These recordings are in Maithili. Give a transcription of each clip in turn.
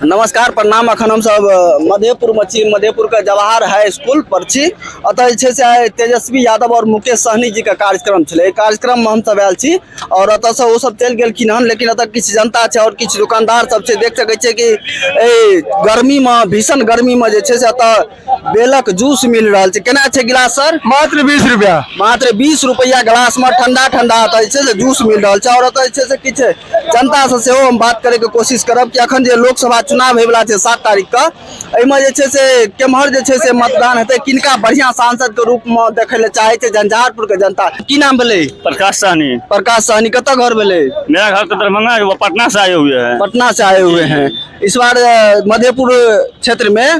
नमस्कार प्रणाम अखन हम सब मधेपुर में छी मधेपुर के जवाहर हाई स्कूल पर छी अतः जे छै से आइ तेजस्वी यादव और मुकेश सहनी जी के कार्यक्रम छलै एहि कार्यक्रम में हम सब आयल छी और अतः से ओ सब चलि गेलखिन हन लेकिन अतः किछु जनता छै और किछु दुकानदार सब छै देख सकै छियै कि एहि गर्मी में भीषण गर्मी में जे छै से अतः बेलक जूस मिल रहल छै केना छै गिलास सर मात्र बीस रुपया मात्र बीस रुपैआ गिलास में ठंडा ठंडा एतऽ जे छै से जूस मिल रहल छै और एतऽ जे छै से किछु जनता से सेहो हम बात करे के कोशिश करब कि अखन जे लोकसभा चुनाव होय वाला छै सात तारीख के एहिमे जे छै से केम्हर जे छै से मतदान हेतै किनका बढ़िया सांसद के रूप में देखै ले चाहे छै झंझारपुर के जनता की नाम भेलै प्रकाश सहनी प्रकाश सहनी कतऽ घर भेलै मेरा घर तो दरभंगा है वो पटना से आए हुए हैं पटना से आए हुए हैं इस बार अ, मधेपुर क्षेत्र में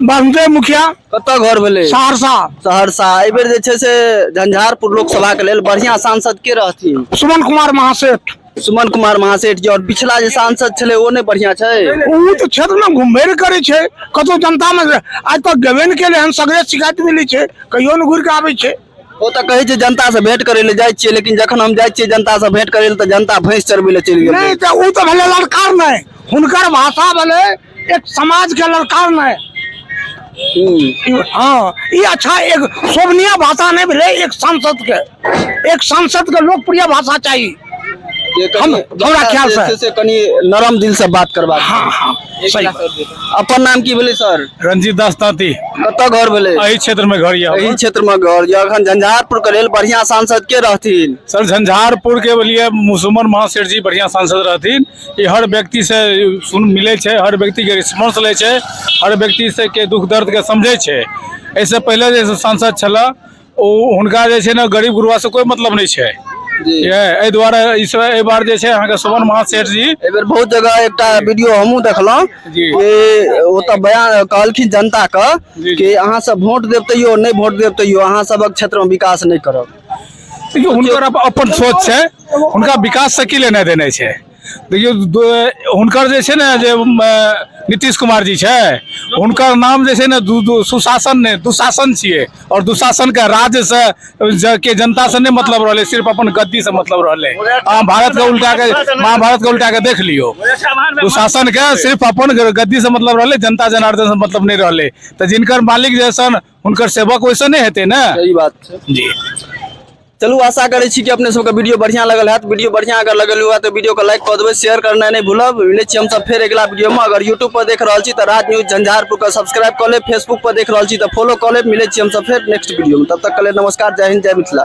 बासुदेव मुखिया कतऽ घर भेलै सहरसा सहरसा एहि बेर जे छै से झंझारपुर लोकसभा के लेल बढ़िया सांसद के रहथिन सुमन कुमार महासेठ सुमन कुमार महासेठ जी और पिछला जे सांसद छलै ओ नहि बढ़िया छै ओ तऽ क्षेत्र में घुमबे ने करै छै कतौ जनता में आज तक गेबे ने केले हन सगरे शिकायत मिलै छै कहियो ने घुरि कऽ आबै छै ओ तऽ कहै छै जनता से भेंट करै लए जाइ छियै लेकिन जखन हम जाइ छियै जनता से भेंट करै लए तऽ जनता भैंस चरबै लए चलि गेल नहि तऽ ओ तऽ भेलै लड़कार नहि हुनकर भाषा भेलै एक समाज के ललकार मे हँ ई अच्छा एक शोभनीय भाषा नहि भेलै एक सांसद के एक सांसद के लोकप्रिय भाषा चाही हम हमरा ख्याल से से कनी नरम दिल से बात करबा हँ हँ सही अपन नाम की भेलै सर रंजीत दास तांती कतऽ घर भेलै एहि क्षेत्र में घर यऽ एहि क्षेत्र में घर यऽ अखन झंझारपुर के लेल बढ़िया सांसद के रहथिन सर झंझारपुर के लिए मुसुमन महासेठ जी बढ़िया सांसद रहथिन ई हर व्यक्ति से सुन मिले छै हर व्यक्ति के रिस्पांस ले छै हर व्यक्ति से के दुख दर्द के समझे छै ऐसे पहले जे सांसद छला ओ हुनका जे छै ने गरीब गुरुआ से कोई मतलब नहीं छै एहि दुआरे इस एहि बार जे छै अहाँके सुमन महासेठ जी एहि बेर बहुत जगह एकटा वीडियो हमहूँ देखलहुँ कि ओतऽ बयान कहलखिन जनताके कि अहाँ सब वोट देब तैयो नहि वोट देब तैयो अहाँ सबक क्षेत्रमे विकास नहि करब देखियौ हुनकर अप- अपन सोच छै हुनका विकास से की लेने देने छै देखियौ द- हुनकर जे छै ने जे उम, अ, नीतीश कुमार जी छै हुनकर नाम जे छै ने दु- दु- सुशासन ने दुशासन छियै और दुशासन के राज्य से ज- के जनता से नहि मतलब रहलै सिर्फ अपन गद्दी से मतलब रहलै अहाँ भारत के उल्टा के महाभारत के उल्टा के देख लियौ दुशासन के सिर्फ अपन गद्दी से मतलब रहलै जनता जनार्दन से मतलब नहि रहलै तऽ जिनकर मालिक जे सन हुनकर सेवक वैसे नहि हेतै ने सही बात छै जी चलू आशा करै छी कि अपने सबके वीडियो बढ़िया लगल हैत वीडियो बढ़िया अगर लगल हुआ तऽ वीडियो के लाइक कऽ देबै शेयर करनाइ नहि भूलब मिलै छी हमसब फेर अगिला वीडियो में अगर यूट्यूब पर देख रहल छी तऽ राज न्यूज झंझारपुर के सब्सक्राइब कऽ लेब फेसबुक पर देख रहल छी तऽ फॉलो कऽ लेब मिलै छी हमसब फेर नेक्स्ट वीडियो में तब तक के लेल नमस्कार जय हिंद जय मिथिला